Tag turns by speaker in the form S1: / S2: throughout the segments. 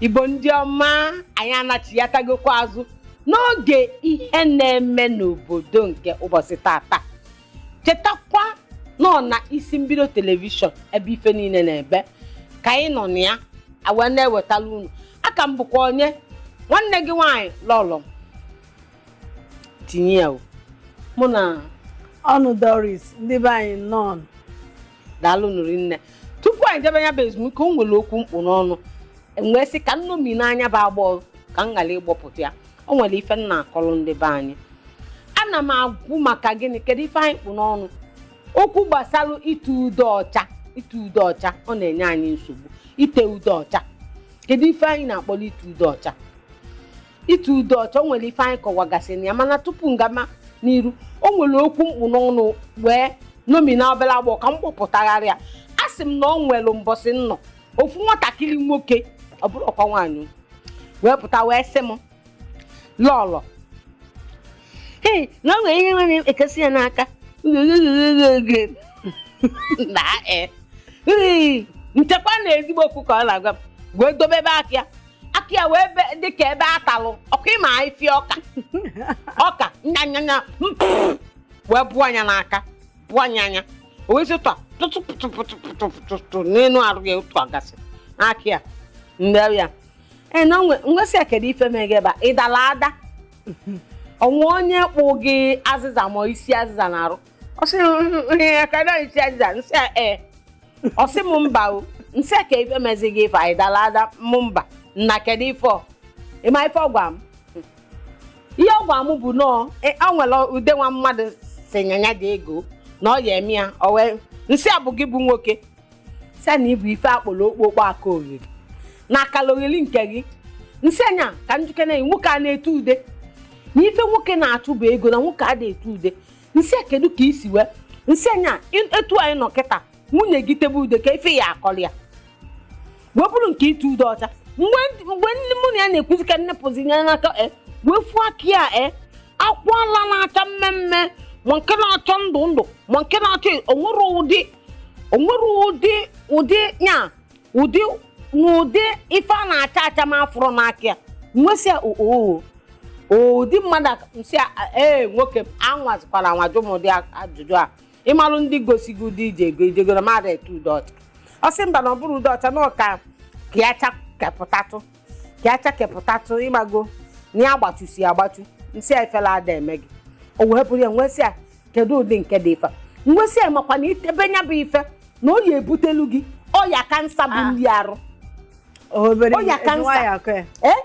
S1: igbo ndị ọma anyị anachiatagokwa azụ n'oge ihe na-eme n'obodo nke ụbọchị taata chetakwa na ọ na isi mbido telivishọn ebe ife niile na-ebe ka anyị nọ na ya wee na-ewetara unu a ka m bụkwa onye nwanne gị nwaanyị lọlọ tinye ya o mụ na
S2: ọnụ doris ndị be anyị nnọọ
S1: daalụ nụ rinne tupu anyị jebe ya bụ ezumike o nwere okwu m kpụ n'ọnụ m wee sị ka m nomie n'anya bụ agbọ ka m ghara ịgbọpụta ya o nwere ife m na-akọrọ ndị be anyị ana m agwụ maka gịnị kedu ife anyị kpụ n'ọnụ okwu gbasara ite ude ọcha ite ude ọcha ọ na-enye anyị nsogbu ite ude ọcha kedu ife anyị na-akpọrọ ite ude ọcha ite ude ọcha o nwere ife anyị kọwagasị na ya mana tupu m gama n'iru o nwere okwu m kpụ n'ọnụ wee nomie na obere agbọ ka m gbọpụtagharị ya a sị m na ọ nwere mbọsị m nọ ofu nwatakịrị nwoke ọ bụrọkwa nwaanyị wee pụta wee sị m lọlọ ee na o nwere ihe m wee nekesie ya n'aka na e m chekwa na ezigbo okwu ka ọ na-agwa m wee dobebe aka ya aka ya wee be- dị ka ebe a talụ ọkụ ị ma ife ọka ọka m nee ya anya wee bụọ anya n'aka bụọ anya anya o wee zụta tụtụ pụtụ pụtụ pụtụ pụtụ pụtụ n'elu arụ ya ọ tụọgasị n'aka ya m sị ya ee na m wee sị ya kedu ife mere gị ebe a ị dara ada o nwee onye kpụ gị azịza ma isi azịza n'arụ ọ sị m ihe ya ka na isi azịza m sị ya ee ọ sị m mba o m sị ya kee ife mezi gị ife anyị dara ada m mba nna kedu ife ọ ị ma ife ọ gwa m ihe ọ gwa m bụ na ọ e- ọ nwere ude nwa mmadụ si nye ya dị ego na ọ ya eme ya ọ wee m sị ya bụ gị bụ nwoke sị na ị bụ ife a kpọrọ okpokpo aka oghere na akara oghere nke gị m sị ya na ka njikere nwoke a na-ete ude na ife nwoke na-achụ bụ ego na nwoke a na-ete ude m sị ya kedu ka i si wee m sị ya na in- etu anyị nọ kịta nwunye gị tebe ude kee ife ị ya-akọrọ ya wee bụrụ nke ite ude ọcha mgbe ndị- mgbe ndị mụ na ya na-ekwuzi ka m nepụzi ya n'aka m wee fụ aka ya e akwara na-acha mmee mmee ma nke na-acha ndụ ndụ ma nke na-acha o nwerọ ụdị o nwerọ ụdị ụdị ya ụdị n'ụdị ife na-acha acha m afụrọ n'aka ya m wee sị ya oo ụdị mmadụ a- nsị a- ee nwoke m anwazikwala anwa jụ m ụdị a- ajụjụ a ị malụ ndị gosi gị ụdị ị jego ị jegoro mmadụ ete ude ọcha ọ sị mba na ọ bụrọ ude ọcha na ọ ka ka ya chakepụtatụ ka ya chakepụtatụ ị mago na ya agbachusi ya agbachu m sị ya ifele ada eme gị o wee bụrụ ya m wee sị ya kedu ụdị nke dị ife a m wee sị ya makwa na i tebe nya bụ ife na ọ ya-ebutelu gị ọya kansa bụ Ah. ndị arụ obere Ọya kansa. nwa ya akọ ya ee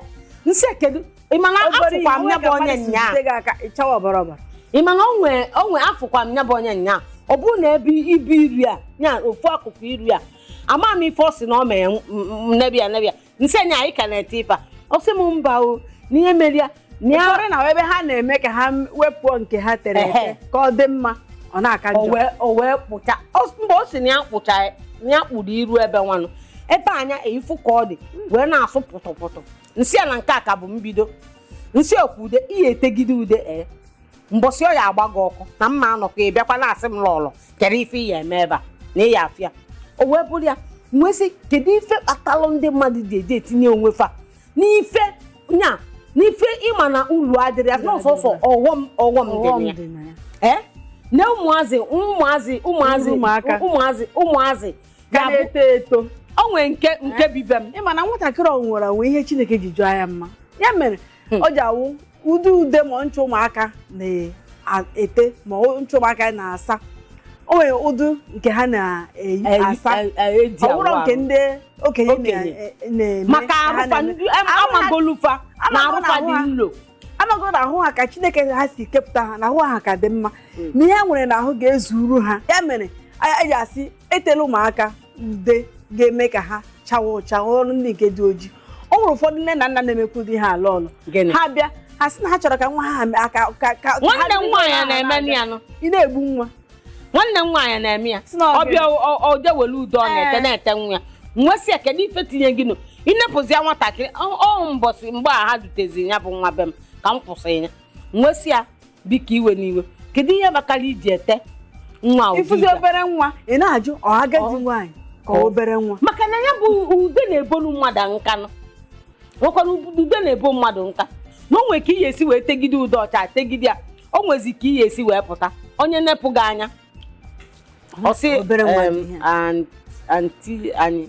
S1: m sị kedu ị ma na Obere ihe, afụkwa m onwe ya bụ ka onye mmadụ si nyaa jide gị aka ịchawa ọbara ọbara ị ma na onwe onwe afụkwa m ya bụ onye nyaa ọ bụrụ na ebe ibe iru ya ofu akụkụ iru ya ama m ife ọ sị na ọ mee m- m- m- nebe ya nebe ya m sị nya ị ka na-ete ife a ọ sị m mba o na ihe mere ya na ya ụfọdụ na ebe
S2: ha na-eme ka ha wepụ nke ha tere ete Ehe. ka ọ dị mma ọ na-aka o njọ wee- o wee kpụcha
S1: o- mgbe o si na ya kpụcha ya, na ya kpụrụ iru ebe nwanụ ebe anya ị fụ ka ọ dị wee na-asụ pụtụpụtụ m sị ya na nke a ka bụ mbido m sị ọ kwa ude ị ya-etegide ude ee mbọsị ọ ya-agba gị ọkụ na mma anọkọ ị bịakwa na-asị m lọlọ kere ife ị ya-eme ebe a na ịya afịa o wee bụrụ ya m wee sị kedu ife kpatalụ ndị mmadụ ji eji etinye onwe fa n'ife nya n'ife ị ma na ulu adịrọ ya na ọ sọsọ ọghọm ọghọm dị Ọghọm na ya dị na ya. ee na ụmụazị ụmụazị ụmụazị Ụmụaka. ụmụazị ụmụazị Ka ga-abụ na-eto
S2: eto o nwere nke
S1: nke bi be m ị ma na nwatakịrị o
S2: nwere o nwe ihe chineke ji chọọ ya mma ya mere hmm. ọ ji awụ ụdị ude ma ncha ụmụaka na-ete ma ncha ụmụaka na-asa o nwere ụdị nke ha na-eji asa ọ bụrọ nke ndị okenye na-eme maka
S1: amagolu fa na arụ fa dị nlo amago na ahụ
S2: ha ka chineke ha si kepụta ha na ahụ ha ka dị mma hmm. na ihe nwere na ahụ ga-ezuru ha ya mere a ji asị etela ụmụaka ude ga-eme ka ha chawa ụcha ọrụ ndị nke dị ojii o nwere ụfọdụ nne na nna na-emekwu di ha ala ọlụ Gịnị? ha bịa ha sị na ha chọrọ ka nwa ha mee- ka ka ka nwanne ha
S1: m biri nwaanyị nwa ha na-eme na-abịa. ya nụ ị na-egbu nwa
S2: nwanne m nwaanyị
S1: na-eme ya Si na ọ ọ bịa ọ- ọ je were ude ọ na-ete Ee. na-ete nwa ya m wee sị ya kedu ife tinye gị nụ ị nepụzi ya nwatakịrị ọ ọ mbọsị mgbe a ha duteziri ya bụ nwa be m ka m kwụsị ya m wee sị ya biko ewena iwe kedu ihe kpatara i ji ete nwa ụdị ị fụzi ude a? obere
S2: nwa ị na-ajụ ọ agadi Ọ- nwaanyị ka ọ-
S1: obere nwa
S2: maka
S1: na ya
S2: bụ
S1: ude
S2: na-ebonu
S1: mmadụ nka nụ nwekwara ude na-ebo mmadụ nka na o nwere ka ị ya-esi wee tegide ude ọcha tegide ya o nwezi ka ị ya-esi wee pụta onye nepụ gị anya ọ sị Obere nwa dị em, ihe. an- anti anyị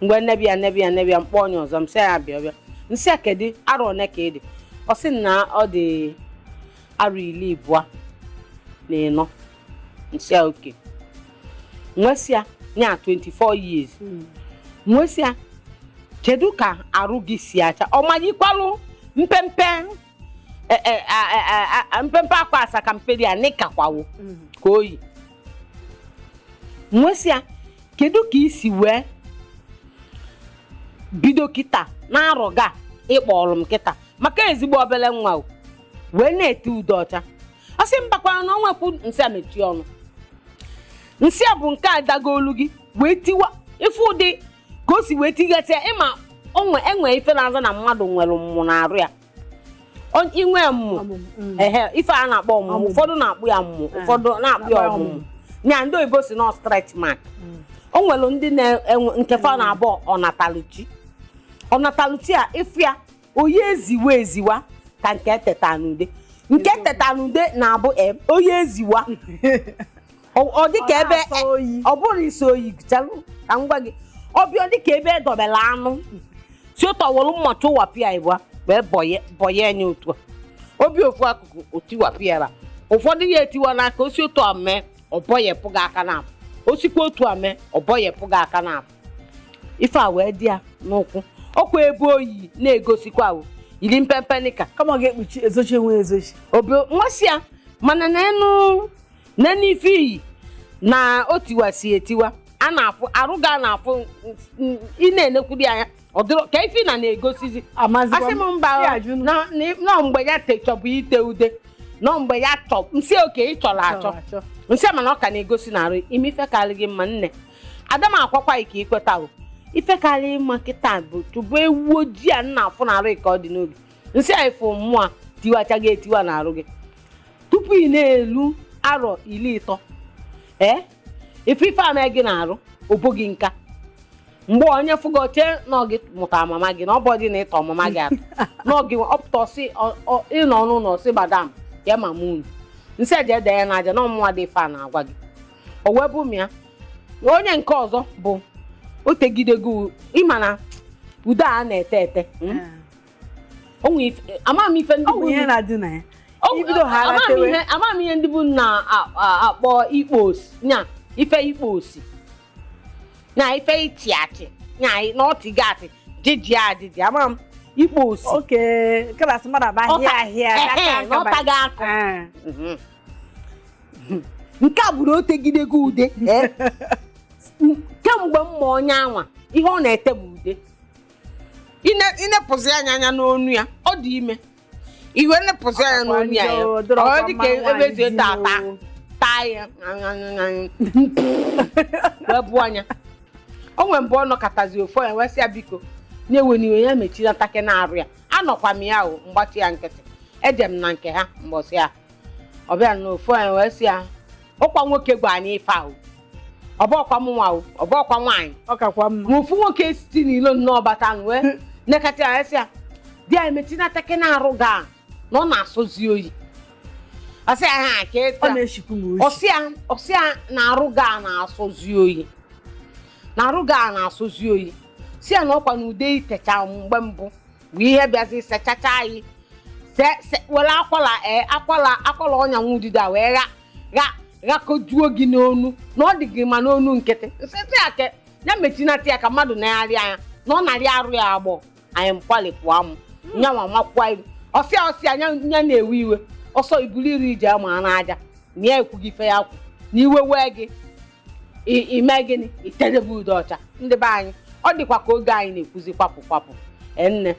S1: mgbe m nebe ya m nebe ya m nebe ya m kpọọ onye ọzọ m sị ya bịa bịa m sị ya kedu arọ one ka ị dị ọ sị na ọ dị arọ iri abụọ na ịnọ m sị ya okay m wee sị ya nya 24 years m wee sị ya kedu ka arụ gị si acha ọ maghịkwalụ mpempe e- e- a- a- a- a- mpempe akwa asakamperi a nịkakwawo ka o yi m wee sị ya kedu ka i si wee bido kịta n'arọ a ị kpọrọ m kịta maka ezigbo obere nwa o wee na-ete ude ọcha ọ sị mbakwara na ọnwa kwu m sị ya mechie ọnụ m sị ya bụ nke a dago olu gị wee tiwa ife ụdị ka o si wee tigasịa ị ma o nwe enwe ife na-aza na mmadụ nwere mmụ na arụ ya On- inwe mmụ Ọmụmụ, mm. ehe ife a na-akpọ ọmụmụ Ọmụmụ. ụfọdụ na-akpọ ya mmụ Ah. ụfọdụ na-akpọ ya Akpọ ya ọmụmụ ọmụmụ. ya ndị oyibo sị na stretch mark Mm. o nwere ndị na-enwe nke fa na-abụ ọnataluchi ọnataluchi a ị fụ ya oyi eziwa eziwa ka nke teta n'ude nke e teta n'ude na-abụ em, oyi eziwa ọ dị ka ebe ọ bụrụ isi oyi chalụ ka m gwa gị ọ bịa dị ka ebe e dobelu anụ si ụtọ were mma chụwapịa ịbụa wee bọye anya otu a obi ofu akụkụ o tiwapịa ya ụfọdụ ya etiwa n'aka o si otu a mee ọ bọyepụ gị aka naabọ o sikwa otu a mee ọ bọyepụ gị aka naabọ ife a wee dị ya n'ụkwụ ọ kwa ebe oyi na-egosikwa ahụ yiri mpempe nika kama ga-ekpuchi ezochi
S2: enwe ezochi obi nwa si ya
S1: mana na enu na n'ife i yi na o tiwasị etiwa a na-afụ arụ gị a na-afụ n- n- ị na-enekwudi anya ọ dịrọ ka ife ị na na-egosizi Amazịkwa asị m m. mba Ya ajụ nụ. na- na- na ọ mgbe ya te- chọbụ ite ude na ọ mgbe ya chọ m sị okay ị chọrọ achọ Chọrọ achọ. m sị mana ọ ka na-egosi na arụ i mee ife karị gị mma nne ada m a gwakwa gị ka i kweta o ife karị mma kịta bụ chụba ewu ojii a ị na-afụ na arụ ka ọ dị n'oge m sị ya ị fụ mmụ a tiwacha gị etiwa n'arụ gị tupu ị na-elu arọ iri ịtọ ee ị fụ ife a mee gị n'arụ o bo gị nka mgbe onye fụ gị o chee na ọ gị mụta mama gị na ọ bụdị na ị tọ mama gị atọ na ọ gị ọ pụta ọ sị ọ- ọ- ị nọ n'ụlọ ọ sị madam ya mama unu m sị ya jee dee ya n'aja na ọ mụnwa dị ife a na-agwa gị o wee bụ m ya na onye nke ọzọ bụ o tegidego ị ma na ude a na-ete ete mm? amaghị m ife ndị bụ ihe na-adị
S2: na ya
S1: amaghị m ihe ndị bụ na-akpọ ikpo osi nya ife ikpo osi na ife ịchị achị nya na ọtịga atị jiji ajiji amaghị m ikpo osi oke klasị
S2: mmadụ abụ ahịa ahịa
S1: n'ọtaghị akọ nke a bụrụ o tegidego ude kemgbe m ma onye anwa ihe ọ na-ete bụ ude Ine- i nepụzi anya anya n'onu ya ọ dị ime i wee nepụzi anya n'onu ya ya Ọ dọrọ ọ dị ka mmanụ ebe nwaanyị zie di taa taa n'o. taa ya wee bụ anya o nwere mgbe ọ nọkatazi ọ fụ ya wee sị ya biko ya ewena iwe ya mechinata ke n'arụ ya anọkwa m ya o m gbachi ya nkịtị eje m na nke ha mbọsị a ọ bịara n'ofu anyị wee sị ya ọkwa nwoke gwa anyị ife ahụ ọ bụ ọkwa mụ nwa o, ọ bụ ọkwa nwaanyị ọ kakwa mma ma ofu
S2: nwoke site
S1: n'ilo nnọọ bata nụ wee nekata ya sị ya di anyị metinata ke na arụ gị a na ọ na-asọzi oyi asị ya ha ka ọ ịta na-eshikwu m
S2: oshi ọ sị ya ọ
S1: sị ya na arụ gị a na-asọzi oyi na arụ gị a na-asọzi oyi sị ya na ọkwa na ude i techa mgbe mbụ bụ ihe bịazi sechacha anyị se- se- were akwala ee akwala akwala ọnya nwa ududo a wee gha gha ghakojuo gị n'onu na ọ dị gị ma n'onu nkịtị nsịtị ya ke ya mechinata ya ka mmadụ na-arị anya na ọ narị arụ ya agbọ anyị mkwalipụ amụ nyanwa makwa iru ọ sị ya ọ sị ya nya nya na-ewe iwe ọ sị buru iru je ma n'aja na ya ekwughị ife ya kwu na iwe wee gị i mee gịnị i tedebe ude ọcha ndị be anyị ọ dịkwa ka oge anyị na-ekwuzi kwapụ kwapụ ee nne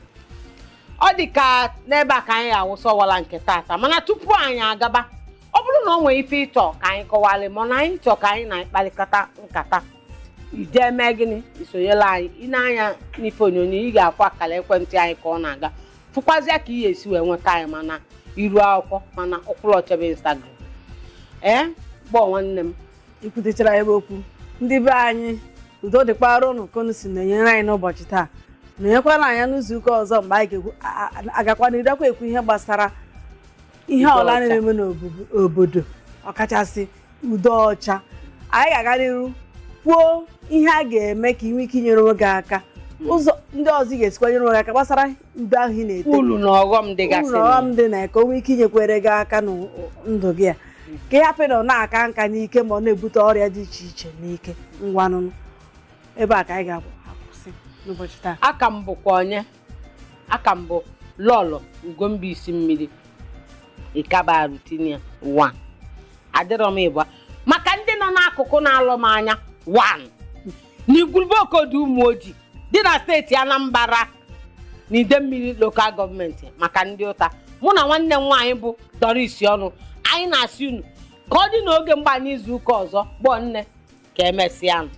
S1: ọ dị ka n'ebe a ka anyị ga-awụsa ọwala nke tata mana tupu anyị agaba ọ bụrụ na ọ nwere ife ị chọ ka anyị kọwalị mana anyị chọ ka anyị na gị kparịkọta nkata i je-eme gịnị i sonyelu anyị i nee anya n'ife onyonyo ị ga-afụkwa akara ekwentị anyị ka ọ na-aga fụkwazịa ka ị ya-esi wee nweta anyị ma na iru akwụkwọ ma na ụkwụrụ ọchebe instagram ee gbọọ nwanne m i kwutechara ya bụ
S2: okwu ndị be anyị udo dịkwara ụnụ ka unu si nọnyere anyị n'ụbọchị taa nọnyekwara anyị n'izu ụka ọzọ mgbe anyị ga-ekwu a- a- a- agakwa n'irukwa ekwu ihe gbasara ihe ude ọla ọcha na-eme n'obodo ọkachasị ude ọcha anyị ga-aga n'iru kwuo ihe a ga-eme ka ị nwee ike inyere onwe gị aka ụzọ ndị ọzọ ị ga-esikwa nyere onwe gị aka gbasara ude ahụ ị na-ete ulu na ọghọm uru dịgasị
S1: na ọghọm dị na ya
S2: ka o nwee ike inyekwere gị aka na ndụ gị a ka ị hapụ ịnọ na-aka nka n'ike ma ọ na-ebute ọrịa dị iche iche n'ike ngwanụ nụ ebe a ka anyị ga-akwụsị n'ụbọchị taa aka m bụkwa onye
S1: aka m bụ lọlọ ugomba isi mmiri ịkaba rutinia wan adịrọ m ịbụa maka ndị nọ n'akụkụ na-alọ m anya wan n'igwurube okodu ụmụoji dị na steeti anambra na idemmiri lokal gọọmenti maka ndị ụta mụ na nwanne m nwaanyị bụ doris ọnụ anyị na-asị unu ka ọ dị n'oge mgba n'izu ụka ọzọ gbọọ nne ka emesịa nụ